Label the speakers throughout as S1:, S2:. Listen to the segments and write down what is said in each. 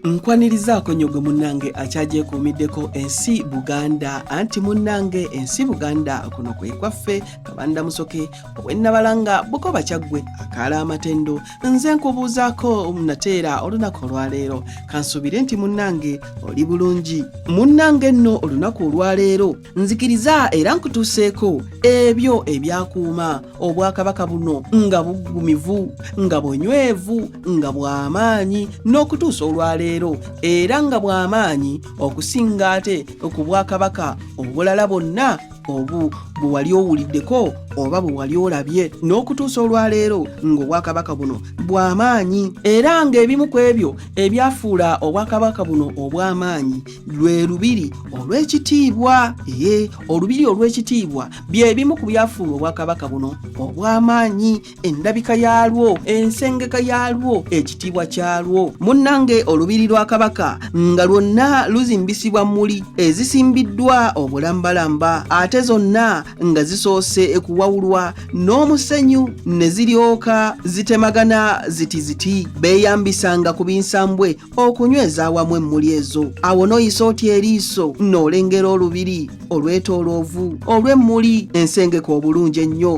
S1: nkwanirizaako nnyo gwe munnange akyagyekuumiddeko ensi buganda anti munnange ensi buganda kuno kwe kwaffe kabanda musoke owennabalanga bukoba kyaggwe akaala amatendo nze nkubuuzaako nateera olunaku olwaleero kansuubire nti munnange oli bulungi munnange nno olunaku olwaleero nzikiriza era nkutuuseeko ebyo ebyakuuma obwakabaka buno nga buggumivu nga bunywevu nga bw'amaanyi n'okutuusa olwaleero era nga bw'amaanyi okusinga ate ku bwakabaka obulala bwonna obu bwe wali owuliddeko oba bwe wali olabye n'okutuusa olwaleero ng'obwakabaka buno bw'amaanyi era ng'ebimu ku ebyo ebyafuula obwakabaka buno obw'amaanyi lwe lubiri olw'ekitiibwa ee olubiri olw'ekitiibwa bye bimu ku byafuula obwakabaka buno obw'amaanyi endabika yaalwo ensengeka yaalwo ekitiibwa kyalwo munnange olubiri lwa kabaka nga lwonna luzimbisibwa muli ezisimbiddwa obulambalamba ate zonna nga zisoose kuwawulwa n'omusenyu ne ziryoka zitemagana ziti ziti beeyambisanga ku binsambwe okunyweza awamu emmuli ezo awo n'oyisa otya eriiso n'olengera olubiri olwetooloovu olw'emmuli ensengeka obulungi ennyo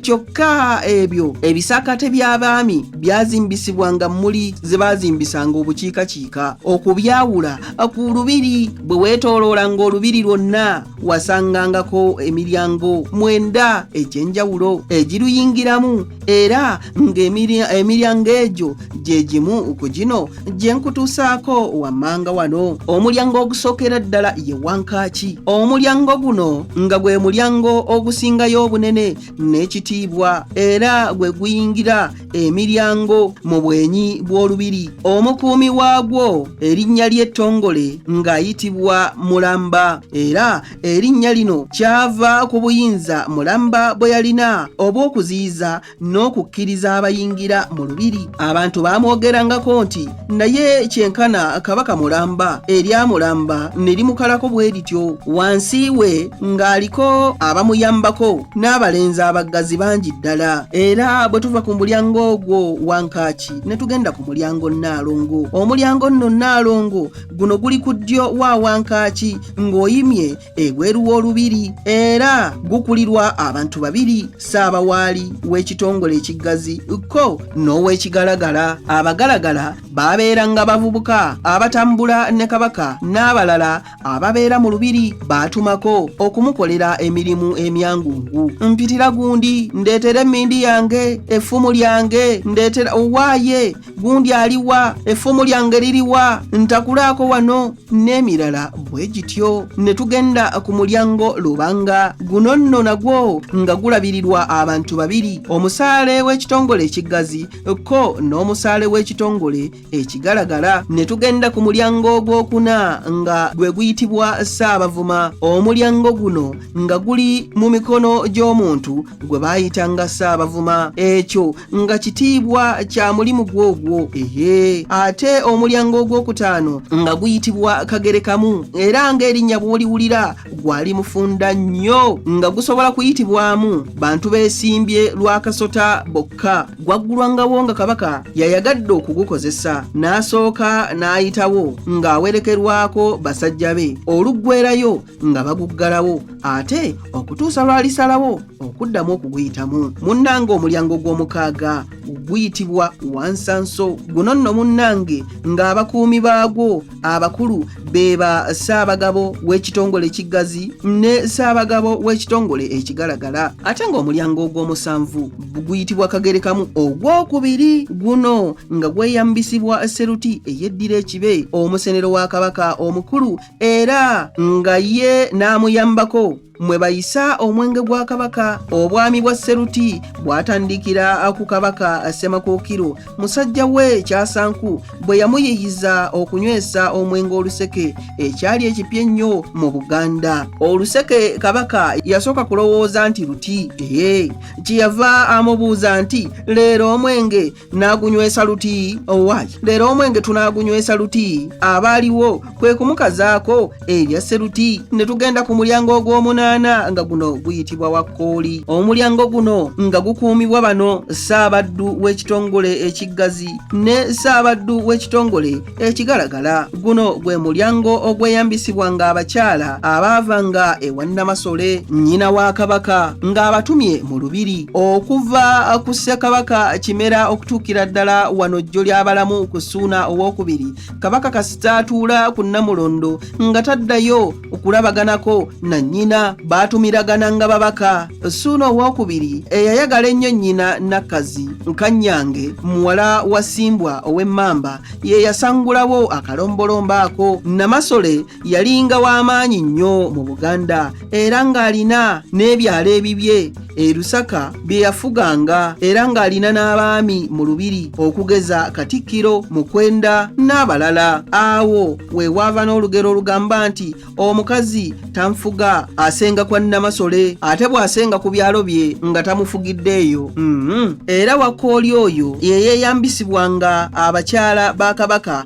S1: kyokka ebyo ebisakate by'abaami byazimbisibwa nga mmuli ze baazimbisanga obukiikakiika okubyawula ku lubiri bwe weetooloolanga olubiri lwonna wasangangako emiryango mwenda egy'enjawulo egiruyingiramu era ng'emiryango egyo gye gimu ku gino gye nkutuusaako wammanga wano omulyango ogusookera ddala ye wankaaki omulyango guno nga gwe mulyango ogusingayo obunene n'ekitiibwa era gwe guyingira emiryango mu bwenyi bw'olubiri omukuumi waagwo erinnya ly'ettongole ng'ayitibwa mulamba era erinnya lino kyava ku buyinza mulamba bwe yalina obw'okuziyiza n'okukkiriza abayingira mu lubiri abantu baamwogerangako nti naye kyenkana kabaka mulamba erya mulamba ne limukalako bwe lityo wansi we ng'aliko abamuyambako n'abalenzi abaggazi bangi ddala era bwe tuva ku mulyango ogwo wankaaki ne tugenda ku mulyango nnaalongo omulyango nno nnaalongo guno guli ku ddyo wa wankaaki ng'oyimye ebweru w'olubiri era gukulirwa abantu babiri ssaabawaali w'ekitongole ekiggazi kko n'ow'ekigalagala abagalagala babeera nga bavubuka abatambula ne kabaka n'abalala ababeera mu lubiri baatumako okumukolera emirimu emyangungu mpitira gundi ndeetera emmindi yange effumu lyange ndeetera owaaye gundi aliwa effumu lyange liriwa ntakulaako wano n'emirala bwe gityo ne tugenda ku mulyango lubanga guno nno nagwo nga gulabirirwa abantu babiri omusaale w'ekitongole ekiggazi ko n'omusaale w'ekitongole ekigalagala ne tugenda ku mulyango ogwokuna nga gwe guyitibwa ssaabavuma omulyango guno nga guli mu mikono gy'omuntu gwe baayitanga ssaabavuma ekyo nga kitiibwa kya mulimu gwogwo ehe ate omulyango ogwokutaano nga guyitibwa kagerekamu era ng'erinnya bw'oliwulira gwali mufunda nnyo nga gusobola kuyitibwamu bantu beesimbye lwa kasota bokka gwaggulwangawo nga kabaka yayagadde okugukozesa n'asooka n'ayitawo ng'awerekerwako basajja be oluggwerayo nga baguggalawo ate okutuusa lw'alisalawo okuddamu okuguyitamu munnange omulyango gw'omukaaga guyitibwa wansanso guno nno munnange ng'abakuumi baagwo abakulu be ba ssaabagabo w'ekitongole ekiggazi ne ssaabagabo w'ekitongole ekigalagala ate ng'omulyango ogw'omusanvu guyitibwa kagerekamu ogw'okubiri guno nga gweyambisibwa seruti eyeddira ekibe omusenero wa kabaka omukulu era nga ye n'amuyambako mwe bayisa omwenge gwa kabaka obwami bwa seruti bwatandikira ku kabaka semakookiro musajja we kyasanku bwe yamuyiyiza okunywesa omwenge oluseke ekyali ekipya ennyo mu buganda oluseke kabaka yasooka kulowooza nti luti ee kyeyava amubuuza nti leero omwenge n'agunywesa luti owaayi oh, leero omwenge tunaagunywesa luti abaaliwo kwe kumukazaako ebya seruti ne tugenda ku mulyango ogw'omunaana nga guno guyitibwa wakkooli omulyango guno nga gukuumibwa bano ssaabaddu w'ekitongole ekiggazi ne ssaabaddu w'ekitongole Ekigalagala guno gwe mulyango ogweyambisibwanga abakyala abaavanga ewa Nnamasole nnyina wa Kabaka ng'abatumye mu lubiri okuva ku Ssekabaka Kimera okutuukira ddala wano jjo ly'abalamu ku Ssuuna owookubiri Kabaka kasita atuula ku Nnamulondo nga taddayo okulabaganako na nnyina baatumilagana nga babaka suuna owokubiri eyayagala ennyo nnyina nakkazi nkanyange muwala wa simbwa ow'emmamba ye yasangulawo akalombolombo ako namasole yalinga w'amaanyi nnyo mu buganda era ng'alina n'ebyalo ebibye e Lusaka bye yafuganga era ng'alina n'abaami mu lubiri okugeza Katikkiro Mukwenda n'abalala. Awo we waava n'olugero olugamba nti omukazi tanfuga asenga kwa Nnamasole ate bw'asenga ku byalo bye nga tamufugiddeeyo. Mm -hmm. Era Wakkooli oyo ye yeeyambisibwanga abakyala ba Kabaka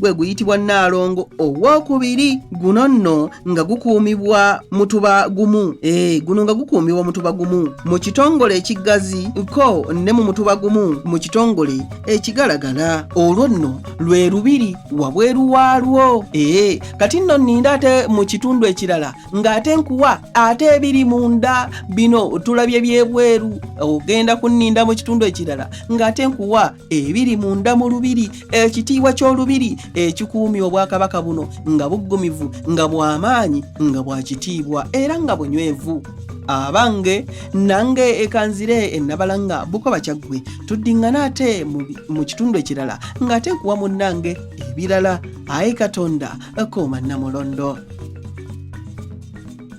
S1: gwe guyitibwa nnaalongo ow'okubiri guno nno nga gukuumibwa mutuba gumu e, guno nga gukuumibwa mutuba gumu mu kitongole ekiggazi ko ne mu mutuba gumu mu kitongole ekigalagala olwo nno lwe lubiri wabweru waalwo ee eh, kati nno nninda ate mu kitundu ekirala ng'ate nkuwa ate ebiri munda bino tulabye byebweru ogenda kunninda mu kitundu ekirala ng'ate nkuwa ebiri munda mu lubiri ekitiibwa ky'olubiri ekikuumya obwakabaka buno nga buggumivu nga bw'amaanyi nga bwa kitiibwa era nga bunywevu abange nange ekanzire enabalanga bukoba kyaggwe tuddingana ate mu kitundu ekirala ng'ate nkuwa munnange ebirala ayi katonda kooma namulondo